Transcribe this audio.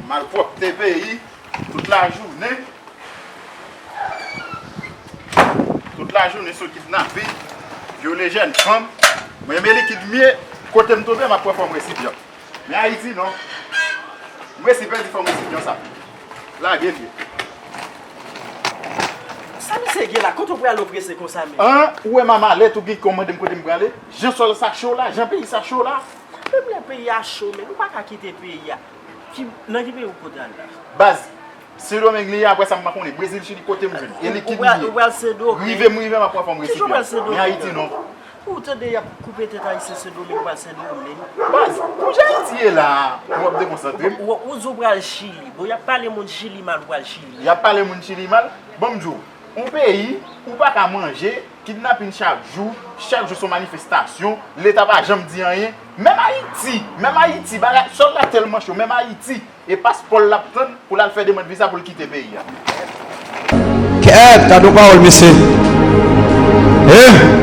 Malpwòpte peyi, tout lajounen, tout lajounen sou kidnapin, vyole jèn fanm, mwen renmen likid mye, kote m tonbe m ap pran fòm resipyan. Men ayiti non. M resi pèdi fanm isit non sa. Lage vye. Sa misye gen la kote w prale w prese konsa menm. An ou wè ma malèt ou gen kòw mandem kote m prale jan sòl sa cho la jan peyi sa cho la. Menm lè peyi a cho men ou paka kite peyi a. Nan ki peyi ou poko t al la. Baz. Sendomeng li ye aprè sa m pa konnen. Brezil chili kotem jwenn. E likid li ye. Rive m rive m ap pran fòm resipi a. Men ayiti non. Ou tande yap koupe tèt ayisyen sendomeng pral sendomeng. Baz, pou jan ayiti ye la a, ou wap dekonsantre m. Ou di w pral chili. Bon yap pale moun chili mal ou pral chili. Yap pale moun chili mal? Bon m di w, yon peyi ou pa ka manje, kidnapin chak jou, chak jou son manifestasyon, leta pa janm di anyen. Menm ayiti, menm ayiti, bagay, sòl la tèlman cho, menm ayiti. E paspò l lap tann pou lal fè demand viza pou l kite peyi a. Kèèt gadon pawòl mesye eeh.